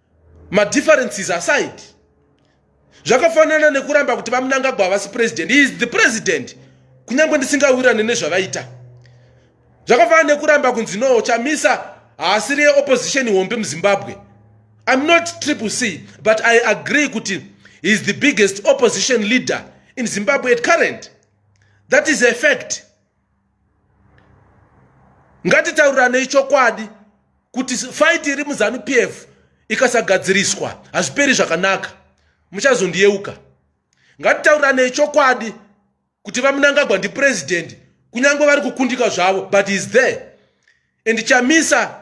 Speaker 1: madifferences aside zvakafanana nekuramba kuti vamunangagwa havasi president he is the president kunyange ndisingawirane nezvavaita zvakafanana nekuramba kunzi no chamisa haasiri yeopposition hombe muzimbabwe iam not triple c but i agree kuti he is the biggest opposition leader in zimbabwe at current that is a fact ngatitauriranei chokwadi kuti fight iri muzanu p f ikasagadziriswa hazviperi zvakanaka muchazondiyeuka ngatitauriranei chokwadi kuti vamunangagwa ndipurezidendi kunyange vari kukundika zvavo but is there and chamisa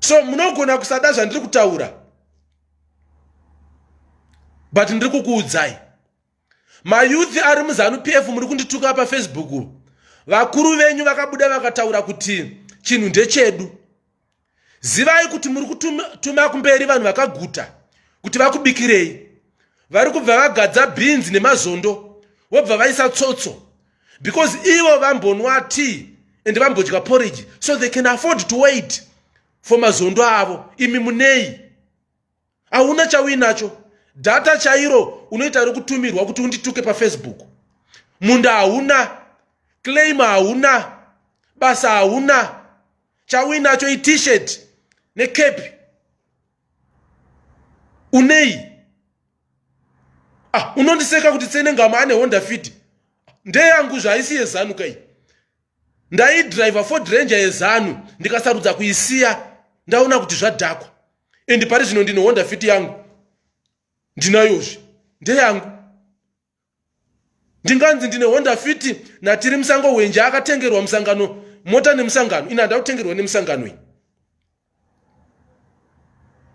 Speaker 1: so munogona kusada zvandiri kutaura but ndiri kukuudzai mayouth ari muzanu pf muri kundituka pafacebook vakuru venyu vakabuda vakataura kuti chinhu ndechedu zivai kuti muri kutuma kumberi vanhu vakaguta kuti vakubikirei vari kubva vagadza bhinzi nemazondo vobva vaisa tsotso because ivo vambonwa tea and vambodya porridge so they can afford to wait for mazondo avo imi munei hauna chauinacho data chairo unoita rekutumirwa kuti undituke pafacebook munda hauna claim hauna basa hauna chauinacho itishet necape unei ah, unondiseka kuti tsenengama ane honda fit ndeyangu zvaisi yezanu kai ndaidriver ford ranger yezanu ndikasarudza kuisiya ndaona kuti zvadhakwa and pari zvino ndine honda fit yangu ndinayozvi ndeyangu ndinganzi ndine honda fiti natiri musango hwenje akatengerwa musangano mota nemusangano ini handina kutengerwa nemusangano ini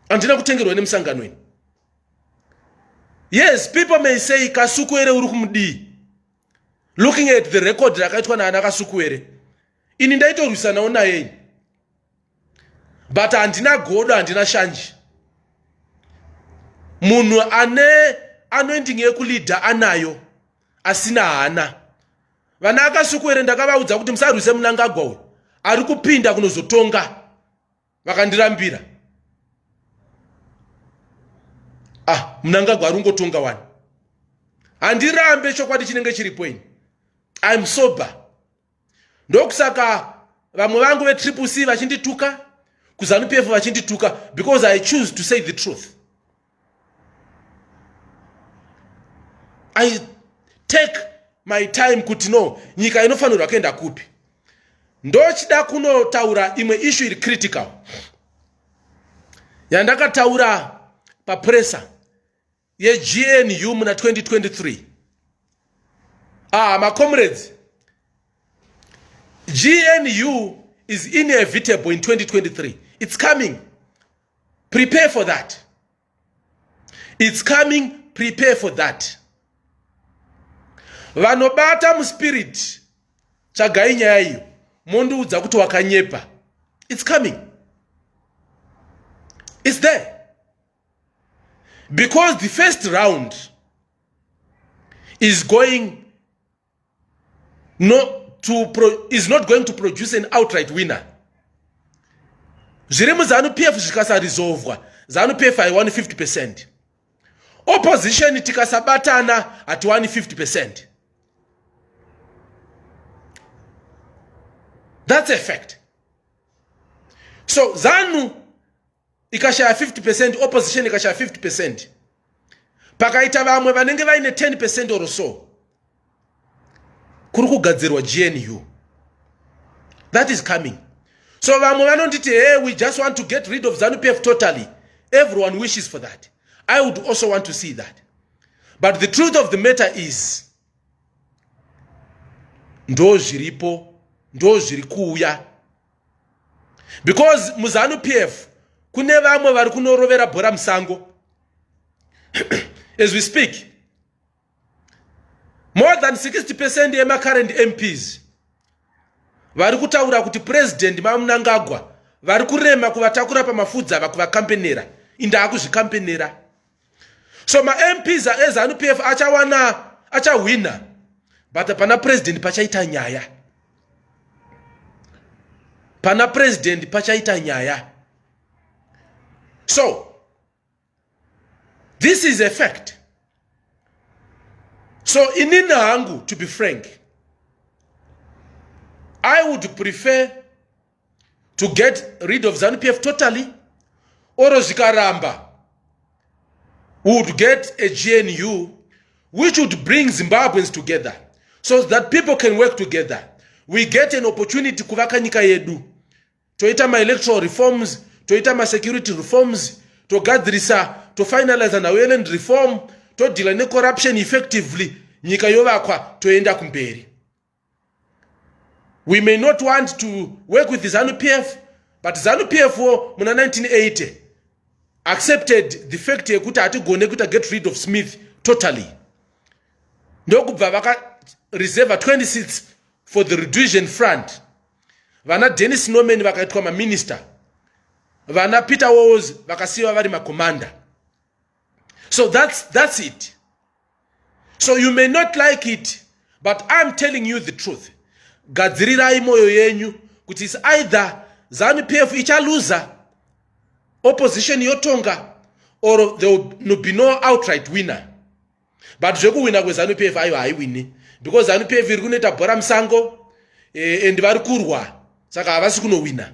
Speaker 1: handina kutengerwa nemusangano ini yes people may say kasukuere uri kumudii looking at the record rakaitwa naana kasukuere ini ndaitorwisanawo naye ini but handina godo handina shanje munhu ane anoending yekulidha anayo asina hana vana akasukuere ndakavaudza kuti musarwise munangagwa uyu ari kupinda kunozotonga vakandirambira ah munangagwa ari ungotonga wani handirambe chokwadi chinenge chiripo ini im sober ndokusaka vamwe vangu vetriple c vachindituka kuzanupf e vachindituka because i choose to say the truth i take my time kuti no nyika inofanirwa kuenda kupi ndochida kunotaura imwe ishu iri critical yandakataura papresa yegnu muna 2023 ah macomrades gnu is inevitable in 2023 it's coming prepare for that it's coming prepare for that vanobata muspirit tsvagai nyaya iyo mondiudza kuti wakanyepa its coming its there because the first round is going not to pro, is not going to produce an outright winner zviri muzanu pf zvikasarizovwa zanu pf haiwani 50 percent opposition tikasabatana hatiwani 50 percent that's a fact so zanu ikashaya 50 percent opposition ikashaya 50 percent pakaita vamwe vanenge vaine 10 percent or so kuri kugadzirwa gnu that is coming so vamwe vanonditi hey we just want to get rid of zanupf totally everyone wishes for that i would also want to see that but the truth of the matter is ndo zviripo ndo zviri kuuya because muzanu p f kune vamwe vari kunorovera bhora musango as we speak more than 60 percent yemacurrent mps vari kutaura kuti purezidendi mamunangagwa vari kurema kuvatakura pamafudzi ava kuvakampenera indaakuzvikampenera so mamps ezanu p f achawana achahwina but pana president pachaita nyaya pana president pachaita nyaya so this is a fact so inini hangu to be frank i would prefer to get rid of zanu pf totally oro zvikaramba would get a gnu which would bring zimbabweans together so that people can work together we get an opportunity kuvaka nyika yedu toita maelectoral reforms toita masecurity reforms togadzirisa tofinaliza naweland reform todhila necorruption effectively nyika yovakwa toenda kumberi we may not want to work with zanu p f but zanu p f wo muna 1980 accepted the fact yekuti hatigone kuita get rid of smith totally ndokubva vakareserva 20 seats for the reduision front vana dennis norman vakaitwa maminister vana peter walls vakasiyiwa vari macommander so that's, that's it so you may not like it but iam telling you the truth gadzirirai moyo yenyu kuti is either zanu p f ichaluza opposition yotonga or there will be no outright winner but zvekuwina kwezanu p f ayo haiwini because zanu p f iri kunoita bhora musango eh, and vari kurwa saka havasi kunowina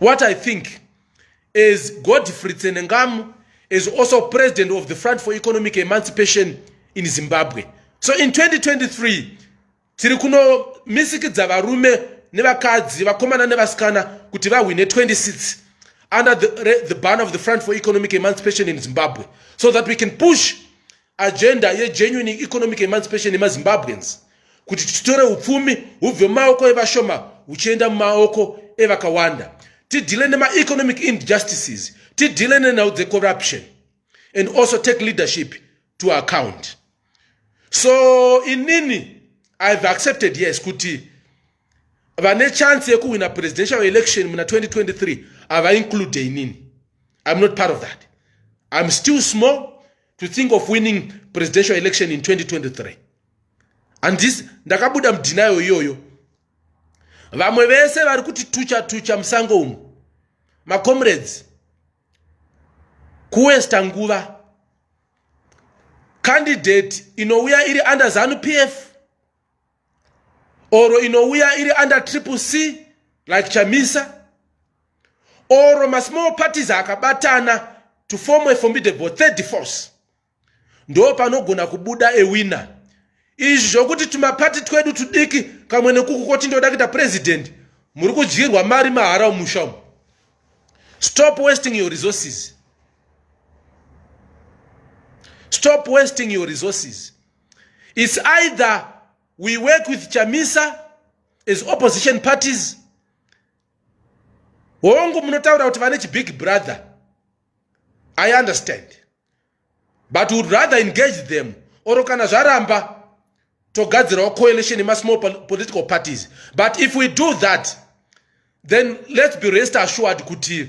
Speaker 1: what i think as godfrey tsenengamu is also president of the front for economic emancipation in zimbabwe so in 2023 tiri kunomisikidza varume nevakadzi vakomana nevasikana kuti vahwine 26 under the, the ban of the front for economic emancipation in zimbabwe so that we can push agenda yegenuine economic emancipation yemazimbabweans kuti titore upfumi hubve mumaoko evashoma huchienda mumaoko evakawanda tidhile nemaeconomic injustices tidhile nenhau dzecorruption and also take leadership to account so inini ihave accepted yes kuti vane chance yekuwina presidential election muna 2023 havainclude inini im not part of that im still small to think of winning presidential election in 2023 and this ndakabuda mudhinayo iyoyo vamwe vese vari kuti tucha tucha musango umu macomrades kuwesta nguva candidate inouya iri under zanu pf or inouya iri under triple c like chamisa or masmall parties akabatana to form a formidable third force ndo panogona kubuda ewina izvi zvokuti tumapati twedu tudiki kamwe nekuku koti ndoda kuita president muri kudyirwa mari mahara umusha umu stop wasting your resources stop wasting your resources It's either we work with Chamisa as opposition parties. Hongu munotaura kuti vane big brother. I understand. But would rather engage them or kana zvaramba togadzirawo coalition in small political parties. But if we do that, then let's be rest assured kuti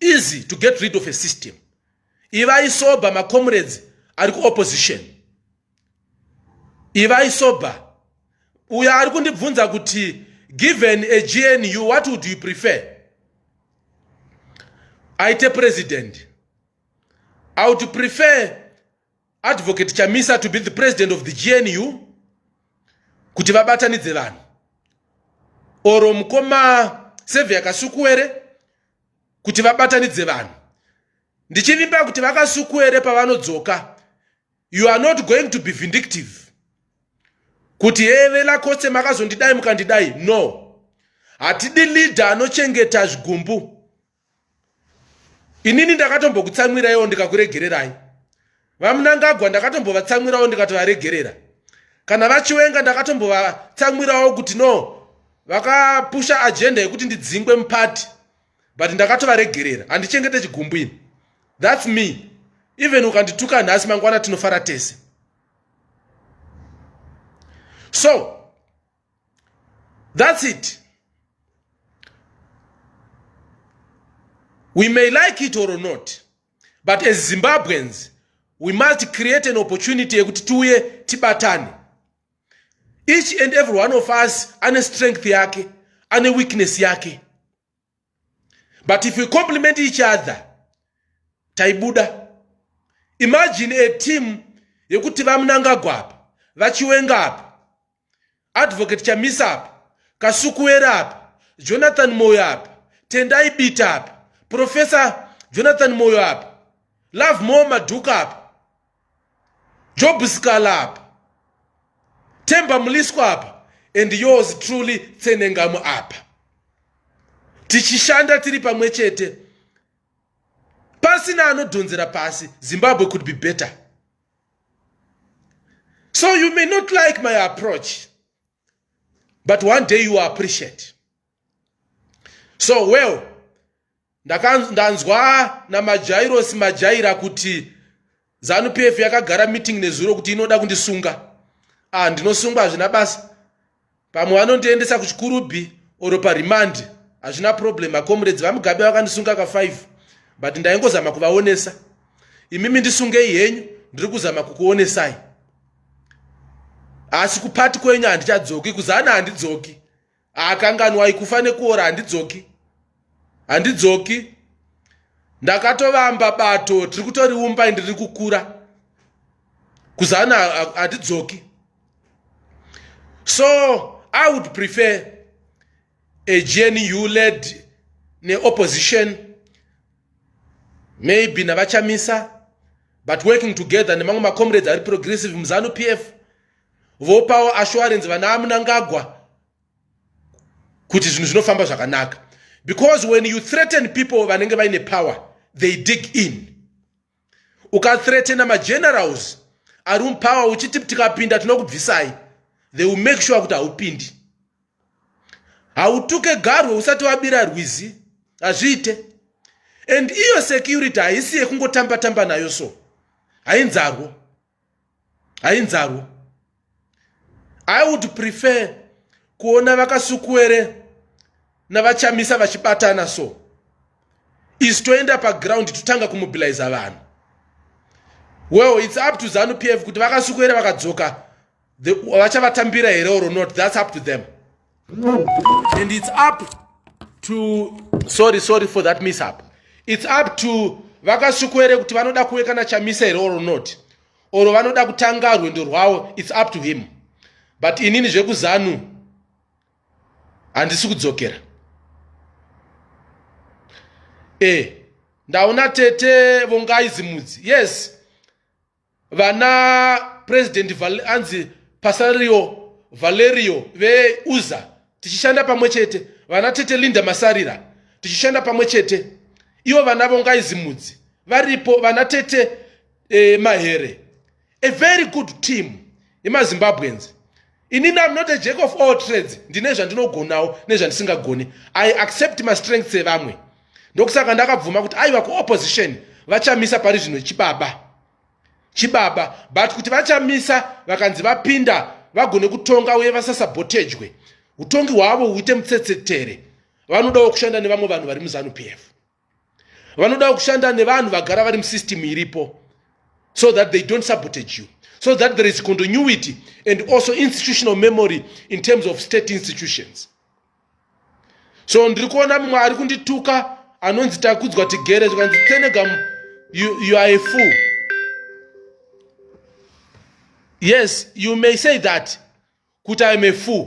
Speaker 1: easy to get rid of a system ivai sober macomrades ari kuopposition ivai sober uyo ari kundibvunza kuti given a gnu what would you prefer aite president i would prefer Advocate Chamisa to be the president of the GNU kuti vabatanidze vanhu oro mukoma Sevia Kasukuwere kuti vabatanidze vanhu ndichivimba kuti vakasukuwere pavanodzoka you are not going to be vindictive kuti heve lakose makazondidai mukandidai no hatidi leader anochengeta zvigumbu inini ndakatombokutsamwiraiwo ndikakuregererai vamunangagwa ndakatombovatsamwirawo ndikatovaregerera kana vachiwenga ndakatombovatsamwirawo kuti no vakapusha agenda yekuti ndidzingwe mupati but ndakatovaregerera handichengete chigumbu ini thats me even ukandituka nhasi mangwana tinofara tese so That's it. We may like it or not, but as Zimbabweans, we must create an opportunity yekuti tiuye tibatane. Each and every one of us ane strength yake, ane weakness yake. but if we compliment each other taibuda imagine a team yekuti vamunangagwa apa vachiwenga apa advocate chamisa apa kasukuwera apa jonathan moyo apa tendai bita apa professor jonathan moyo apa love more madhuka apa job sikala apa temba muliswa apa and yours truly tsenengamu apa tichishanda tiri pamwe chete pasina anodhonzera pasi zimbabwe could be better so you may not like my approach but one day you appreciate so well ndanzwa namajairosi majaira kuti zanu p f yakagara meeting nezuro kuti inoda kundisunga ah ndinosungwa hazvina basa pamwe vanondiendesa kuchikurubhi or parimandi hazvina problem acomrades vamugabe vakandisunga ka 5 but ndaingozama kuvaonesa imimi ndisungei henyu ndiri kuzama kukuonesai asi kupati kwenyu handichadzoki kuzana handidzoki akanganwai kufa nekuora handidzoki handidzoki ndakatovamba bato tiri kutoriumba indi riri kukura kuzana hatidzoki so i would prefer a gnu led neopposition maybe navachamisa but working together nemamwe macomrades ari progressive muzanu p f vopawo assurance vana amunangagwa kuti zvinhu zvinofamba zvakanaka because when you threaten people vanenge vaine power they dig in ukathreatena magenerals ari mupower uchiti tikapinda tinokubvisai they will make sure kuti haupindi hautuke garwe usati wabira rwizi hazviite and iyo security haisi yekungotamba tamba nayo so hainzarwo hainzarwo i would prefer kuona vakasukuwere navachamisa vachibatana so isu toenda paground totanga kumobiliza vanhu well its up to zanu p f kuti vakasukuwere vakadzoka vachavatambira here or not that's up to them and it's up to sorry sorry for that mishap it's up to vakasviko here kuti vanoda kuve kana chamisa here or not or vanoda kutanga rwendo rwavo it's up to him but inini zvekuzanu handisi kudzokera e ndaona tete vongai zimudzi yes vana president anzi pasario valerio veuza tichishanda pamwe chete vana tete linda masarira tichishanda pamwe chete ivo vana vongaizimudzi varipo vana tete eh, mahere a very good team yemazimbabweans inini am not a jack of all trades ndine zvandinogonawo nezvandisingagoni i accept mastrengths evamwe ndokusaka ndakabvuma kuti aiva kuopposition vachamisa pari zvino chibaba chibaba but kuti vachamisa vakanzi vapinda vagone kutonga uye vasasabotejwe utongi hwavo huite mutsetse tere vanodawo kushanda nevamwe vanhu vari muzanu p f vanodawo kushanda nevanhu vagara vari musystem iripo so that they don't sabotage you so that there is continuity and also institutional memory in terms of state institutions so ndiri kuona mumwe ari kundituka anonzi takudzwa tigere zvikanzi tenegam you, you are a fool yes you may say that kuti iam a fool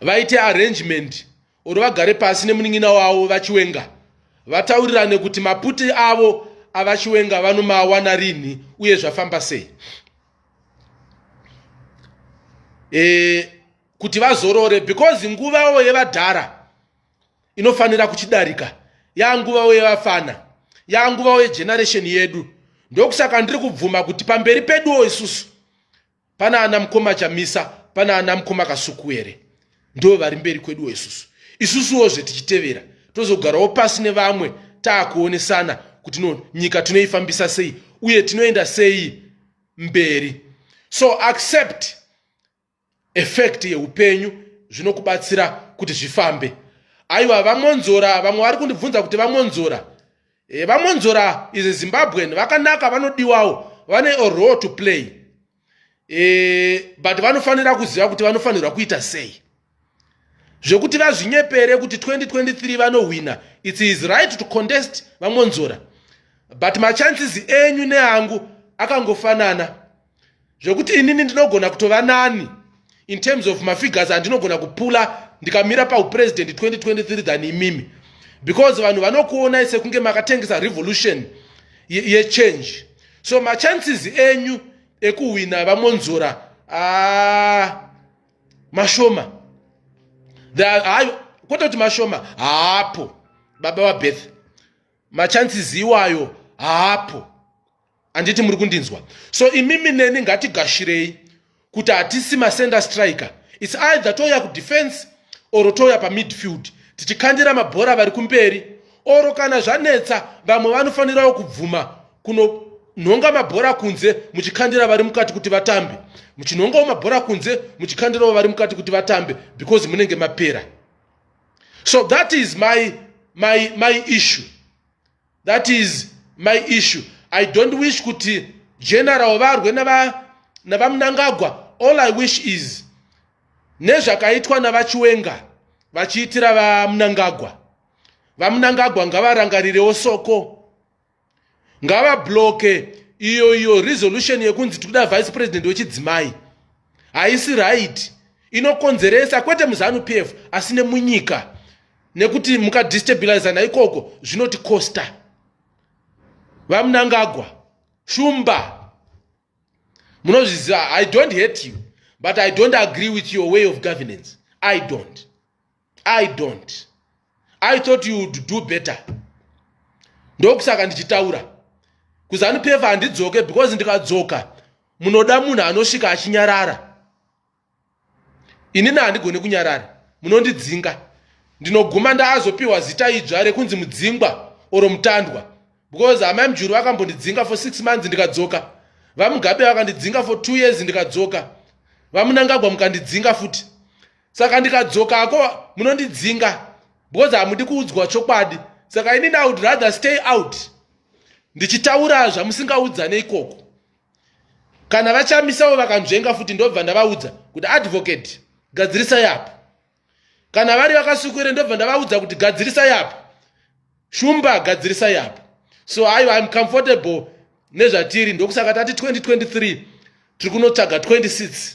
Speaker 1: vaite arrangement or vagare pasi nemunin'ina wavo vachiwenga vataurirane kuti maputi avo avachiwenga vanomawana rinhi uye zvafamba sei e, kuti vazorore because nguvavo yevadhara inofanira kuchidarika yanguvavo yevafana yanguvavo yegeneration yedu ndokusaka ndiri kubvuma kuti pamberi peduwo isusu pana ana mukoma chamisa pana ana mukoma kasuku here ndo vari mberi kweduwo isusu isusuwozve tichitevera tozogarawo pasi nevamwe taakuonesana kuti no nyika tinoifambisa sei uye tinoenda sei mberi so accept effect yeupenyu zvinokubatsira kuti zvifambe aiwa vamonzora vamwe vari kundibvunza kuti vamonzora e, vamonzora is a zimbabwean vakanaka vanodiwawo vane a role to play e, but vanofanira kuziva kuti vanofanirwa kuita sei zvekuti vazvinyepere kuti 2023 vanohwina its his right to contest vamonzora but machances enyu neangu akangofanana zvekuti inini ndinogona kutova nani in terms of mafigures andinogona kupula ndikamira paupresident 2023 than imimi because vanhu vanokuonai sekunge makatengesa revolution yechange ye so machances enyu ekuhwina vamonzora ah, mashoma kwete kuti mashoma haapo baba vabeth machances iwayo haapo handiti muri kundinzwa so imimi neni ngatigashirei kuti hatisi macenter striker its either touya kudefense or touya pamidfield tichikandira mabhora vari kumberi oro kana zvanetsa vamwe vanofanirawo kubvuma kuno nhonga mabhora kunze muchikhandira vari mukati kuti vatambe muchinhongawo mabhora kunze muchikhandirawo vari mukati kuti vatambe because munenge mapera so that is my, my, my issue that is my issue i don't wish kuti general varwe navamunangagwa all i wish is nezvakaitwa navachiwenga vachiitira vamunangagwa vamunangagwa ngavarangarirewo soko ngavabloke iyo iyo resolution yekunzi tikuda vice president wechidzimai haisi right inokonzeresa kwete muzanu p f asi nemunyika nekuti mukadistabilizana ikoko zvinoti costa vamunangagwa shumba munozviziva i don't hate you but i don't agree with your way of governance i don't i don't i thought you would do better ndokusaka ndichitaura kuzanupeva handidzoke because ndikadzoka munoda munhu anosvika achinyarara inini handigone kunyarara munondidzinga ndinoguma ndaazopiwa zita idzva rekunzi mudzingwa oro mutandwa because amai mujuru vakambondidzinga for six months ndikadzoka vamugabe vakandidzinga for two years ndikadzoka vamunangagwa mukandidzinga futi saka ndikadzoka ako munondidzinga because hamudi kuudzwa chokwadi saka inini i would rather stay out ndichitaura zvamusingaudza neikoko kana vachamisawo vakanzvenga futi ndobva ndavaudza kuti advocate gadzirisa yapo kana vari vakasukuire ndobva ndavaudza kuti gadzirisa yapo shumba gadzirisa yapo so aiwa im comfortable nezvatiri ndokusaka tati 2023 tiri kunotsvaga 26